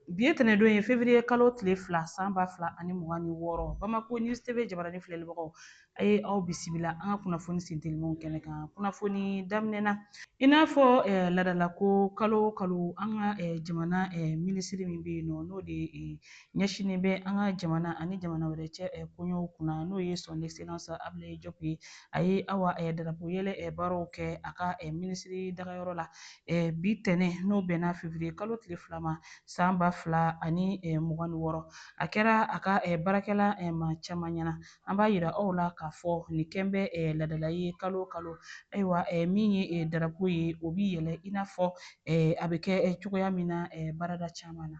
Bi ye tɛnɛdon ye fevriye kalo tile fila san ba fila ani mugan ni wɔɔrɔ bamako univers TV jabarani filɛlibagaw a ye aw bisimila an ka kunnafoni sentelimaw kɛnɛ kan kunnafoni daminɛna i n'a fɔ eh, ladalako kalo kalo an ka eh, jamana eh, minisiri min bɛ yen nɔ n'o de eh, ɲɛsinnen bɛ an ka jamana ani jamana wɛrɛ cɛ eh, koɲɛw kunna n'o ye son excellence ablaye jɔp ye a ye awa eh, darapo yɛlɛ eh, baaraw kɛ a ka eh, minisiri dagayɔrɔ la eh, bi tɛnɛ n'o bɛnna fevriye kalo tile fila ma san ba fila ani eh, mugan ni wɔɔrɔ a kɛra a ka eh, baarakɛla eh, maa caman ɲɛna an b'a yira aw la k'a fɔ nin kɛlen bɛ eh, ladala ye kalo o kalo ayiwa eh, min ye eh, darapo ye o bi yɛlɛ i n'a fɔ eh, a bɛ kɛ eh, cogoya min na eh, baarada caman na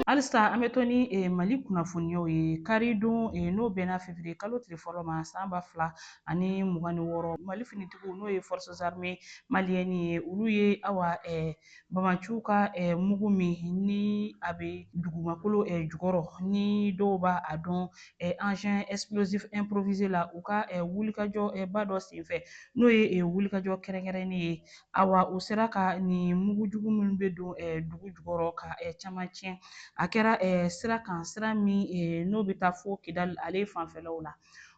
halisa an bɛ to ni eh, mali kunnafoniyaw ye karidon eh, n'o bɛnna fevriye kalo tile fɔlɔ ma san ba fila ani mugan ni wɔɔrɔ mali finitigiw n'o ye forces armées maliennes ye olu ye awa eh, banbaanciw ka mugu min ni a bɛ dugumakolo jukɔrɔ ni dɔw b'a a dɔn engin explosif improvisé la u ka wulikajɔba dɔ senfɛ n'o ye wulikajɔ kɛrɛnkɛrɛnnen ye Awa u sera ka nin mugujugu minnu bɛ don eh, dugu jukɔrɔ ka eh, caman tiɲɛ a kɛra eh, sira kan sira min n'o bɛ taa fo kidali ale fanfɛlaw la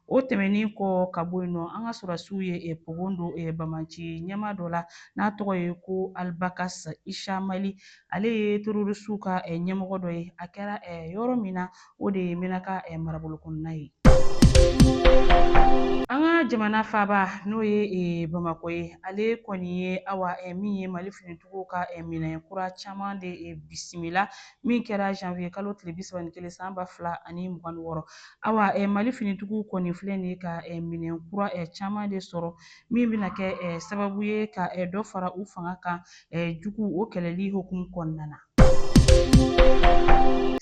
o tɛmɛnen kɔ ka bɔ yen nɔ an ka sɔrɔdasiw ye eh, pogon don eh, banbaanci ɲɛmaa dɔ la n'a tɔgɔ ye ko alibakas ishamali ale ye terorisiw ka eh, ɲɛmɔgɔ dɔ ye a kɛra eh, yɔrɔ min na o de ye mɛnaka marabolo kɔnɔna ye an ka jamana faaba n'o ye eh, bamakɔ ye ale kɔni ye awa eh, min ye mali finitigiw ka eh, minɛn kura caman de bisimila min kɛra janvier kalo tile bi saba ni kelen san ba fila ani mugan ni wɔɔrɔ awa mali finitigiw kɔni filɛ nin ye ka minɛn kura caman de sɔrɔ min bɛna kɛ sababu ye ka dɔ fara u fanga kan juguw kɛlɛli hukumu kɔnɔna na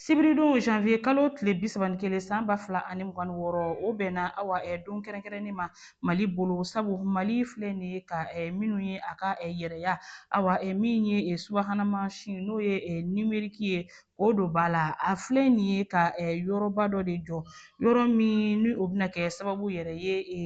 sibiridon janvier kalo tile bi saba ni kelen san ba fila ani mugan ni wɔɔrɔ o bɛnna awa ɛ don kɛrɛnkɛrɛnnen ma mali bolo sabu mali filɛ nin ye ka ɛ minnu ye a ka ɛ yɛrɛya awa ɛ min ye ɛ subahana mansin n'o ye ɛ nimeriki ye k'o don ba la a filɛ nin ye ka ɛ yɔrɔba dɔ de jɔ yɔrɔ min ni o bɛna kɛ sababu yɛrɛ ye e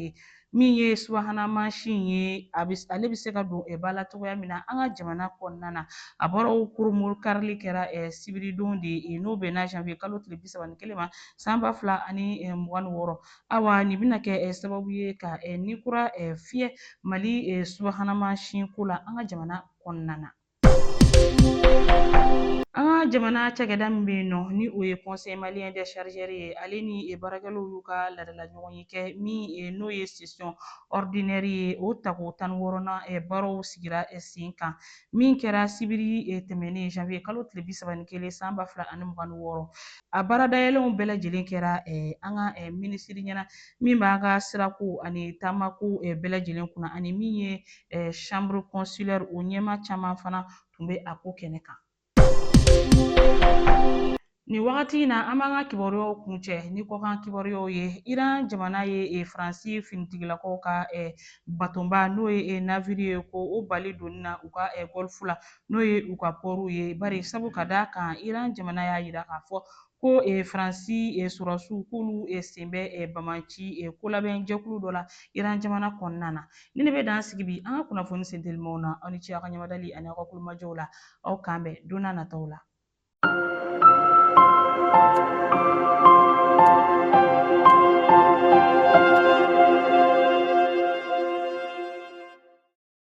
min ye subahana mansin ye a bɛ ale bɛ se ka don ba la cogoya min na an ka jamana kɔnɔna na a bɔra o kurunbonkarili kɛra sibiridon de ye n'o bɛnna janvier kalo tile bi saba ni kelen ma san ba fila ani mugan ni wɔɔrɔ awa nin bɛna kɛ sababu ye ka ni kura fiyɛ mali subahana mansin ko la an ka jamana kɔnɔna na jamana cakɛda min bɛ yen nɔ ni o ye Conseil malien des chargeurs ye ale ni baarakɛlaw y'u ka laadala ɲɔgɔnye kɛ min n'o ye session ordinaire ye o tako tan ni wɔɔrɔnan baaraw sigira sen kan min kɛra sibiri tɛmɛnen janvier kalo tile bi saba ni kelen san ba fila ani mugan ni wɔɔrɔ a baara dayɛlɛnw bɛɛ lajɛlen kɛra an ka minisiri ɲɛna min b'an ka sirako ani taamako bɛɛ lajɛlen kunna ani min ye eh, chambre consulaire o ɲɛmaa caman fana tun bɛ a ko kɛnɛ kan Nin wagati in na an b'an ka kibaruyaw kuncɛ ni kɔkan kibaruyaw ye Iran jamana ye e, Faransi finitigilakaw ka e, batonba n'o ye e, naviri ye ko o bali donni na u ka gɔlifu la n'o ye u ka pɔriw ye bari sabu ka d'a kan Iran jamana y'a jira k'a fɔ ko eh, faransi eh, sɔrɔdasiw k'olu eh, sen bɛ eh, banbaanci eh, kolabɛn jɛkulu dɔ la iran jamana kɔnɔna na nin de bɛ dan sigi bi an ka kunnafoni sentelimaw na aw ni ce aw ka ɲɛmadali ani aw ka tulomajɔw la aw k'an bɛn don nataw la